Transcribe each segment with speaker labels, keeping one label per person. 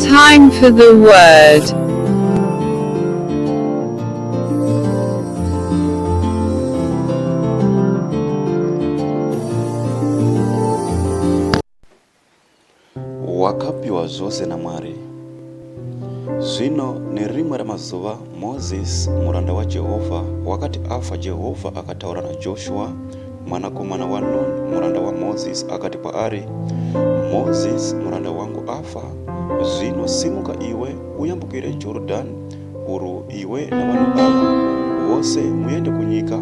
Speaker 1: Time for the word.
Speaker 2: Wakapiwa zvose naMwari. Zvino nerimwe ramazuva Moses muranda waJehovha wakati afa Jehovha akataura naJoshua Mwanakomana waNuni muranda waMozisi akati kwaari, Mozisi muranda wangu afa, zvino simuka iwe uyambukire Jorodhani urwu iwe navanhu ava vose muende kunyika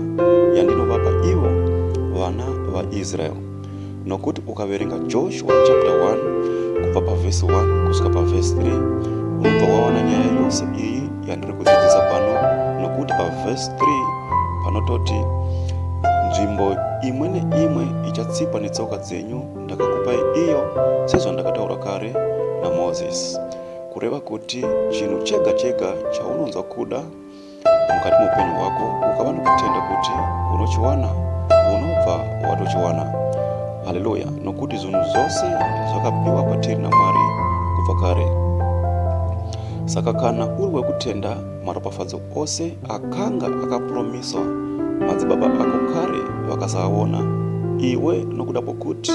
Speaker 2: yandinovapa ivo vana vaIsraeri. Nokuti ukaverenga Joshua chapter 1 kubva pavhesi 1 kusvika pavhesi 3 unobva wawana nyaya yose iyi yandiri kudzidzisa pano nokuti pavhesi 3 panototi nzvimbo imwe neimwe ichatsikwa netsoka dzenyu ndakakupai iyo sezvandakataura kare namozisi kureva kuti chinhu chega chega chaunonzwa kuda mukati muupenyu hwako ukava nokutenda kuti unochiwana unobva watochiwana haleluya nokuti zvinhu zvose zvakapiwa kwatiri namwari kubva kare Saka kana uri wekutenda maropafadzo ose akanga akapuromiswa madzibaba ako kare vakasaaona, iwe nokuda kwokuti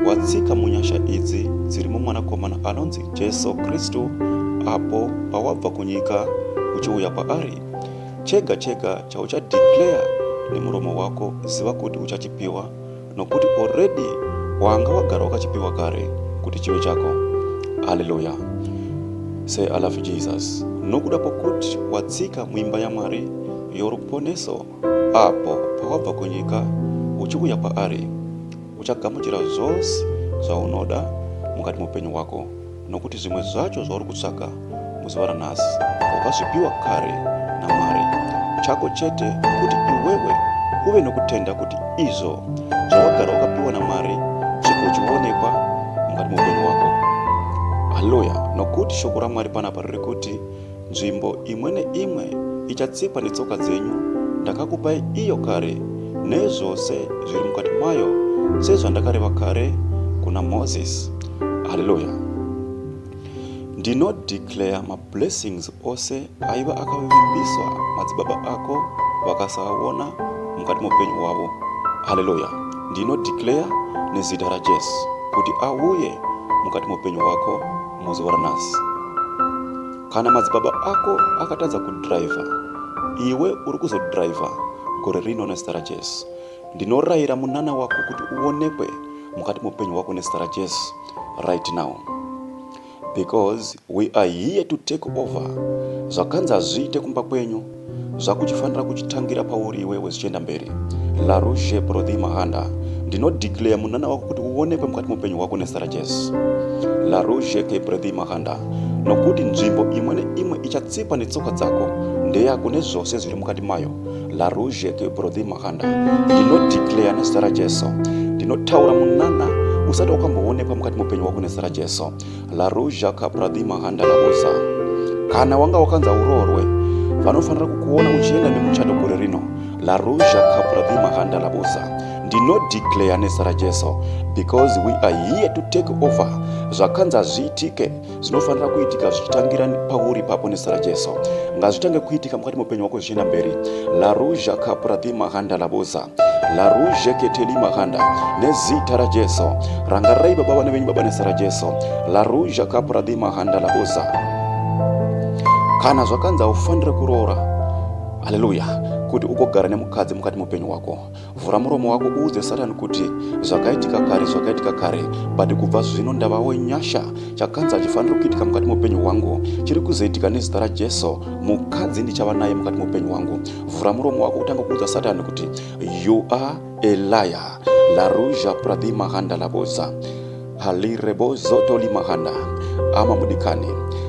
Speaker 2: watsika munyasha idzi dziri muMwanakomana anonzi Jesu Kristu apo pawabva kunyika uchiuya kwaari, chega chega chauchadeclare nemuromo wako ziva kuti uchachipiwa, nokuti already wanga wagara wakachipiwa kare kuti chive chako haleluya say i love jesus nokuda kwokuti watsika muimba yamwari yoruponeso apo pawabva kunyika uchiuya kwaari uchagamuchira zvose zvaunoda mukati muupenyu hwako nokuti zvimwe zvacho zvauri kutsvaga muzuva ranhasi wakazvipiwa kare namwari chako chete kuti iwewe uve nokutenda kuti izvo zvawagara wakapiwa namwari chiko chionekwa mukati meupenyu wako haleluya nokuti shoko ramwari panapa riri kuti Nzvimbo imwe neimwe ichatsikwa netsoka dzenyu ndakakupai iyo kare, nezvose zviri mukati mayo, sezvandakareva kare kuna Moses. Haleluya! Ndinodeclare mablessings ose aiva akavimbiswa madzibaba ako vakasaaona mukati meupenyu hwavo. Haleluya! Ndinodeclare nezita raJesu kuti auye mukati meupenyu hwako. Mozoora nhasi. Kana madzibaba ako akatadza kudriver, iwe uri kuzodriver gore rino nezita raJesu. Ndinorayira munana wako kuti uonekwe mukati meupenyu hwako nezita raJesu right now. Because we are here to take over. Zvakanzi hazviite kumba kwenyu. zvakuchifanira kuchitangira pauri iwewe zvichienda mberi larouge brothy mahanda ndinodeclare munana wako kuti uonekwe mukati mupenyu hwako nezita rajesu larouge ke brothy mahanda nokuti nzvimbo imwe neimwe ichatsikwa netsoka dzako ndeyako nezvose zviri mukati mayo larouge ke brothy mahanda ndinodeclare nezita rajesu ndinotaura munana usati wakamboonekwa mukati mupenyu wako nezita rajesu Laruja Kapradi Mahanda Labosa, kana wanga wakanza uroorwe, vanofanira kukuona uchienda nemuchato gore rino. Laruja Kapradi Mahanda Labosa, ndinodeclare nezita raJesu because we are here to take over. Zvakanzi hazviitike zvinofanira kuitika zvichitangira pauri papo nezita raJesu. Ngazvitange kuitika mukati meupenyu hwako zvichienda mberi. Laruja Kapradi Mahanda Labosa. laruzhe keteli makanda nezita rajesu rangarirai baba vana venyu baba nezita rajesu laruzha kapradhi makanda laboza kana zvakanzi haufanire kuroora haleluya kuti ugogara nemukadzi mukati mupenyu wako vhura muromo wako uudze satani kuti zvakaitika kare zvakaitika kare but kubva zvino ndavawo nyasha chakanzi hachifaniri kuitika mukati mupenyu hwangu chiri kuzoitika nezita rajesu mukadzi ndichava naye mukati mupenyu hwangu Vhura muromo wako utanga kuudza Satan kuti you are a liar. La Ruja Pradhi Mahanda Laboza. Halirebo Zotoli Mahanda. Ama mudikani.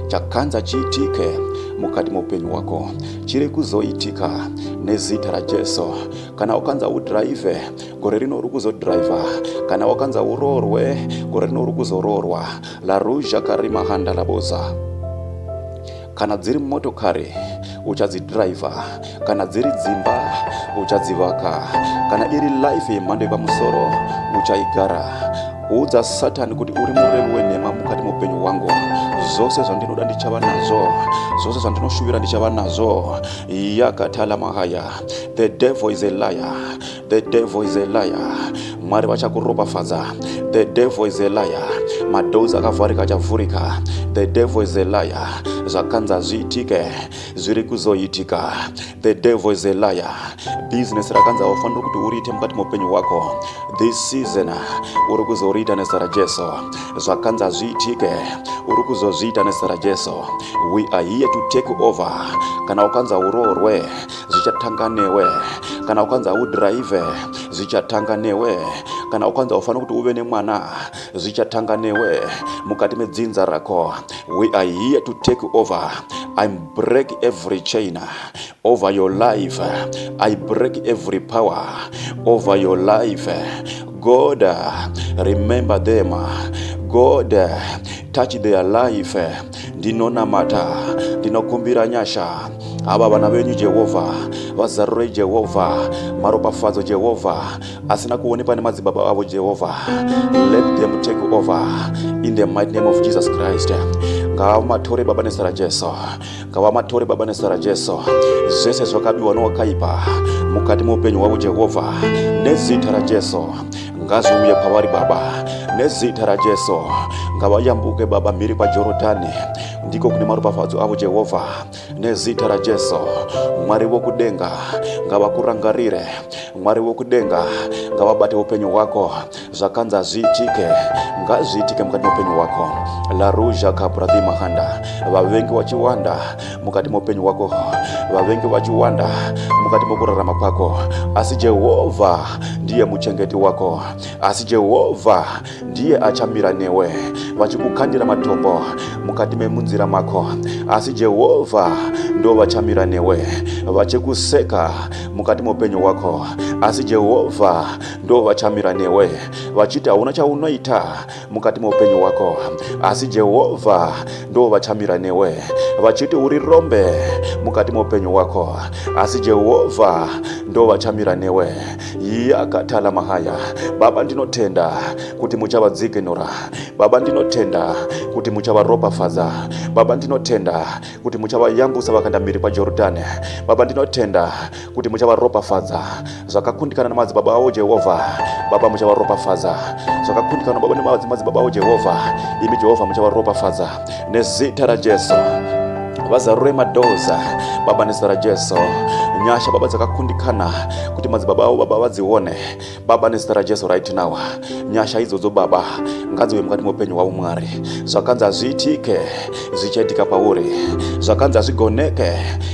Speaker 2: Chakanza chiitike mukati meupenyu wako chiri kuzoitika nezita rajesu kana wakanza udhiraivhe gore rino uri kuzodhiraivha kana wakanza uroorwe gore rino uri kuzoroorwa laruzha karimahanda laboza Kana dziri motokari uchadzidhiraivha, kana dziri dzimba uchadzivaka, kana iri life yemhando yepamusoro uchaigara. Udza Satani kuti uri murevi wenhema mukati meupenyu hwangu. Zvose zvandinoda ndichava nazvo, zvose zvandinoshuvira ndichava nazvo. Yakatala mahaya. The devil is a liar. The devil is a liar. Mwari vachakuropafadza. The devil is a liar. Madoors akavharika achavhurika. The devil is a liar. Zvakanza zviitike zviri kuzoitika. The devil is a liar. Business rakanza wafanira kuti uriite mukati meupenyu hwako. This season uri kuzoriita nezita raJesu. Zvakanza zviitike uri kuzozviita nezita raJesu. We are here to take over. Kana ukanza uroorwe zvichatanga newe kana ukanzi haudhiraivhe zvichatanga newe kana ukanzi haufanira kuti uve nemwana zvichatanga newe mukati medzinza rako we are here to take over i break every chain over your life i break every power over your life god remember them god touch their life ndinonamata ndinokumbira nyasha ava vana venyu jehovha vazarurei jehovha maropafadzo jehovha asina kuonekwa nemadzibaba avo jehovha let them take over in the mighty name of jesus christ ngavamatore baba nezita rajesu ngavamatore baba nezita rajesu zvese zvakabiwa nowakaipa mukati meupenyu hwavo jehovha nezita rajesu ngazviuye pavari baba nezita rajesu ngavayambuke baba mhiri kwajorodhani ndiko kune maropafadzo avo jehovha nezita rajesu mwari wokudenga ngavakurangarire mwari wokudenga ngavabate upenyu hwako zvakanzi hazviitike ngazviitike mukati meupenyu hwako laruja kabradhi mahanda vavengi wachiwanda mukati moupenyu hwako vavengi vachiwanda mukati mokurarama kwako asi jehovha ndiye muchengeti wako asi jehovha ndiye achamira newe vachikukandira matombo mukati memunzira mako asi jehovha ndo vachamira newe vachikuseka mukati moupenyu hwako asi jehovha ndo vachamira newe vachiti hauna chaunoita mukati meupenyu hwako asi jehovha ndo vachamira newe vachiti uri rombe mukati meupenyu hwako asi jehovha ndo vachamira newe yakatala mahaya baba ndinotenda kuti muchavadzikinura baba ndinotenda kuti muchavaropafadza baba ndinotenda kuti muchavayambusa vakanda mhiri kwajorodhani baba ndinotenda kuti muchavaropafadza zvakakundikana namadzibaba avo jehovha baba muchavaropafadza zvakakundikana baba nemadzimadzibaba avo jehovha imi jehovha muchavaropafadza nezita rajesu vazarure madhoza baba nezita rajesu nyasha baba dzakakundikana kuti madzibaba avo baba vadzione Baba nezita raJesu right now, nyasha idzodzo Baba ngadziwe mukati meupenyu hwavo Mwari. Zvakanzi hazviitike zvichaitika pauri, zvakanzi hazvigoneke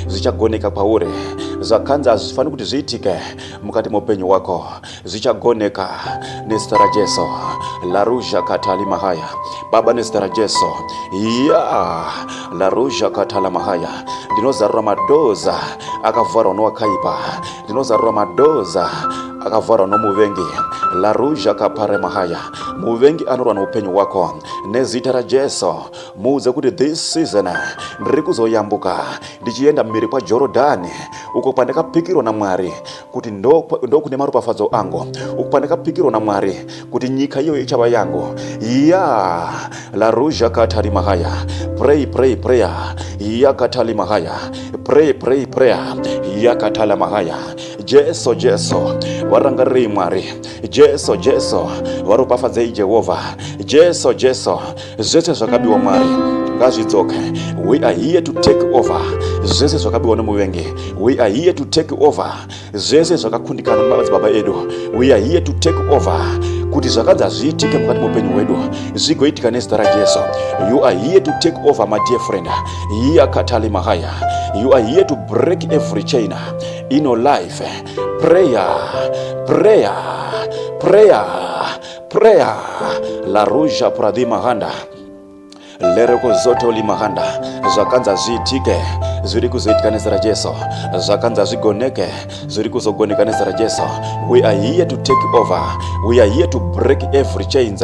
Speaker 2: zvichagoneka pauri, zvakanzi hazvifaniri kuti zviitike mukati meupenyu hwako zvichagoneka nezita raJesu. Laruzha katali mahaya Baba nezita raJesu, ya laruzha katala mahaya, ndinozarura madoza akavharwa nowakaipa ndinozarura madoza akavharwa nomuvengi laruja kapare mahaya muvengi anorwa noupenyu hwako nezita rajesu muudze kuti this season ndiri kuzoyambuka ndichienda mhiri kwajorodhani uko kwandakapikirwa namwari kuti ndokune maropafadzo angu uko kwandakapikirwa namwari kuti nyika iyoyo ichava yangu ya laruzha katari mahaya pray pray prayer yakatali mahaya pray pray prayer yakatala mahaya jesu jesu varangarirei mwari jesu jesu varopafadzei jehovha jesu jesu zvese zvakabiwa mwari ngazvidzoke we are here to take over zvese zvakabiwa nemuvengi we are here to take over zvese zvakakundikana mumadzibaba edu we are here to take over kuti zvakanzi hazviitike mukati meupenyu hwedu zvigoitika nezita rajesu you are here to take over my dear friend hiya katali mahaya you are here to break every chain in your life prayer prayer prayer prayer la ruja pradhimahanda lero kuzoto limahanda zvakanza zviitike zviri kuzoitika nezera jesu zvakanza zvigoneke zviri kuzogoneka nezera jesu we are here to take over we are here to break every chains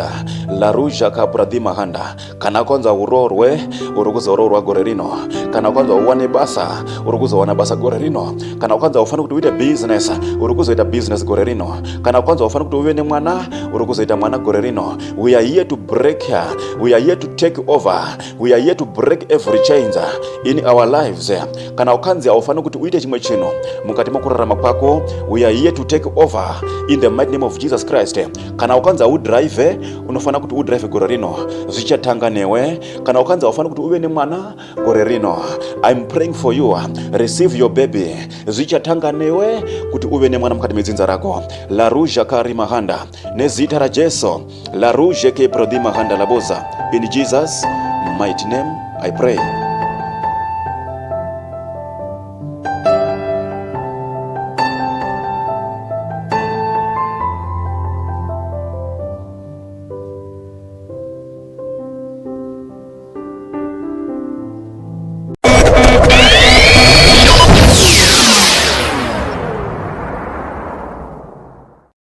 Speaker 2: laruja kapradhi mahanda kana kwanza uroorwe uri kuzoroorwa gore rino kana kwanza uwane basa uri kuzowana basa gore rino kana kwanza ufanira kuti uite business uri kuzoita business gore rino kana kwanza ufanira kuti uve nemwana uri kuzoita mwana gore rino We are here to break her. We are here to take over. We are here to break every chains in our lives. Kana ukanzi haufaniri kuti uite chimwe chinhu mukati mokurarama kwako, we are here to take over in the mighty name of Jesus Christ. Kana ukanzi haudrive, unofanira kuti udrive gore rino. Zvichatanga newe. Kana ukanzi haufaniri kuti uve nemwana gore rino. I'm praying for you. Receive your baby. Zvichatanga newe kuti uve nemwana mukati medzinza rako. Laruja Kari Mahanda. nezita rajesu laruzhe ke prodhima handa laboza in jesus mighty name i pray